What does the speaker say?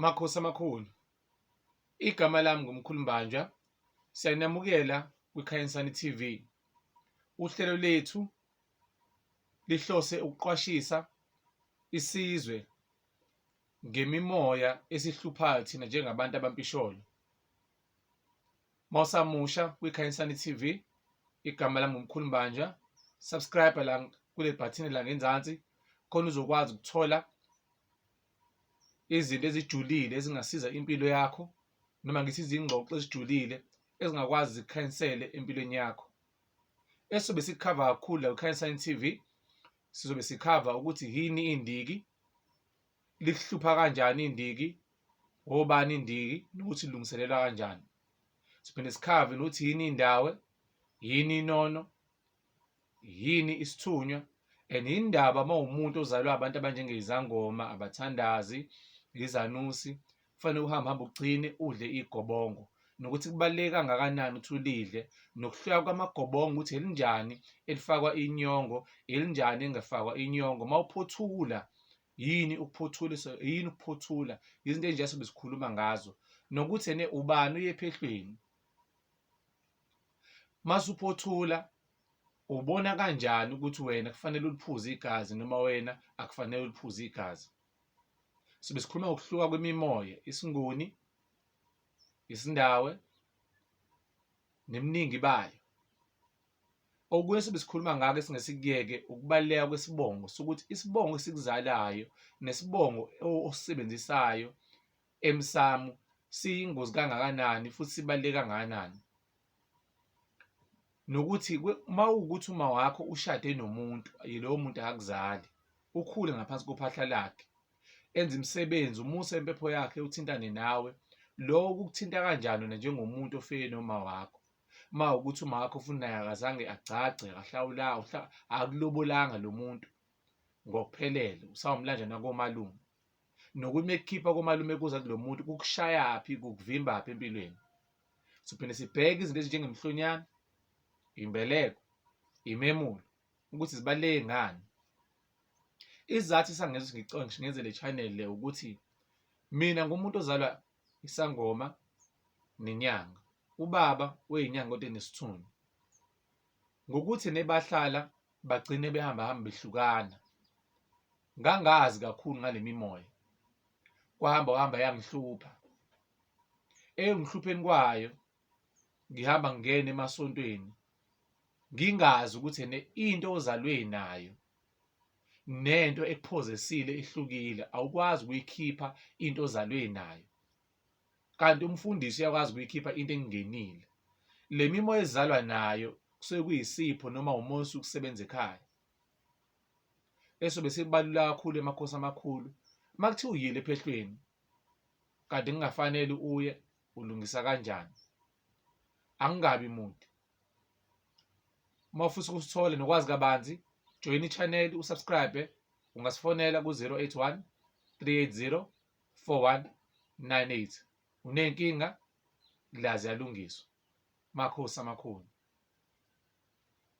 Makhosi amakhulu, igama lami nguMkhulu Mbanjwa, siyanamukela kwiKhanyisani TV. Uhlelo lethu lihlose ukuqwashisa isizwe ngemimoya esihluphayo thina njengabantu abampisholo. mawusamusha kwiKhanyisani TV igama lami ngumkhulu Mbanja subscribe la kule bhathini la ngenzansi khona uzokwazi ukuthola izinto ezijulile ezingasiza impilo yakho noma ngithi izingxoxo ezijulile ezingakwazi zikhanyisele empilweni yakho esizobe sikhava kakhulu la kwiKhanyisani TV sizobe sikhava ukuthi yini indiki likuhlupha kanjani indiki obani indiki nokuthi ilungiselelwa kanjani siphinde sikhave nokuthi yini indawo yini inono yini isithunywa and indaba uma umuntu ozalwa abantu abanjengezangoma abathandazi izanusi kufanele uhambe hambe ugcine udle igobongo nokuthi kubaluleke kangakanani ukuthi ulidle nokuhluka kwamagobongo ukuthi elinjani elifakwa inyongo elinjani engafakwa inyongo uma uphothula yini ukuphothulisa yini ukuphothula izinto ezinje sobe sikhuluma ngazo nokuthi ene ubani uyephehlweni masuphothula ubona kanjani ukuthi wena kufanele uliphuze igazi noma wena akufanele uliphuze igazi sibe sikhuluma ngokuhluka kwemimoya isinguni isindawe neminingi bayo okunye sibe sikhuluma ngako esingesikuyeke ukubaluleka kwesibongo sokuthi isibongo esikuzalayo nesibongo osisebenzisayo emsamo siyingozi kangakanani futhi sibaluleke kangakanani nokuthi uma ukuthi uma wakho ushade nomuntu yilowo muntu akuzali ukhule ngaphansi kophahla lakhe enze imisebenzi umuse impepho yakhe uthintane nawe lowo kukuthinta kanjani wena njengomuntu ofike noma wakho uma ukuthi uma wakho ufuna naye akazange agcagce akahlawula akulobolanga lo muntu ngokuphelele usawumlanjana komalume nokuthi uma ekukhipha komalume kuza kulo muntu kukushayaphi kukuvimbaphi empilweni siphinde sibheke izinto ezinjengemhlonyana imbeleko imemulo ukuthi zibaluleke ngani isizathu sangenza ukuthi ngenze le channel le ukuthi mina ngumuntu ozalwa isangoma nenyanga ubaba weyinyanga kodwa enesithunzi ngokuthi nebahlala bagcine behamba hamba behlukana Ngangazi kakhulu ngale mimoya, kwahamba kwahamba yangihlupha. Eyongihlupheni kwayo ngihamba ngingena emasontweni ngingazi ukuthi ene into ozalwe nayo nento ekuphozesile ihlukile, awukwazi ukuyikhipha into ozalwe nayo. Kanti umfundisi uyakwazi ukuyikhipha into engenile. Le mimoya ezalwa nayo kusuke kuyisipho noma umoya osuke usebenza ekhaya. esobe sibalula kakhulu emakhosi amakhulu uma kuthiwa uyile ephehlweni kanti kungafanele uye ulungisa kanjani angingabi muntu uma ufisa ukusithola nokwazi kabanzi joyina i-channel usubscribe ungasifonela ku-081 380 4198 unenkinga la ziyalungiswa makhosi amakhulu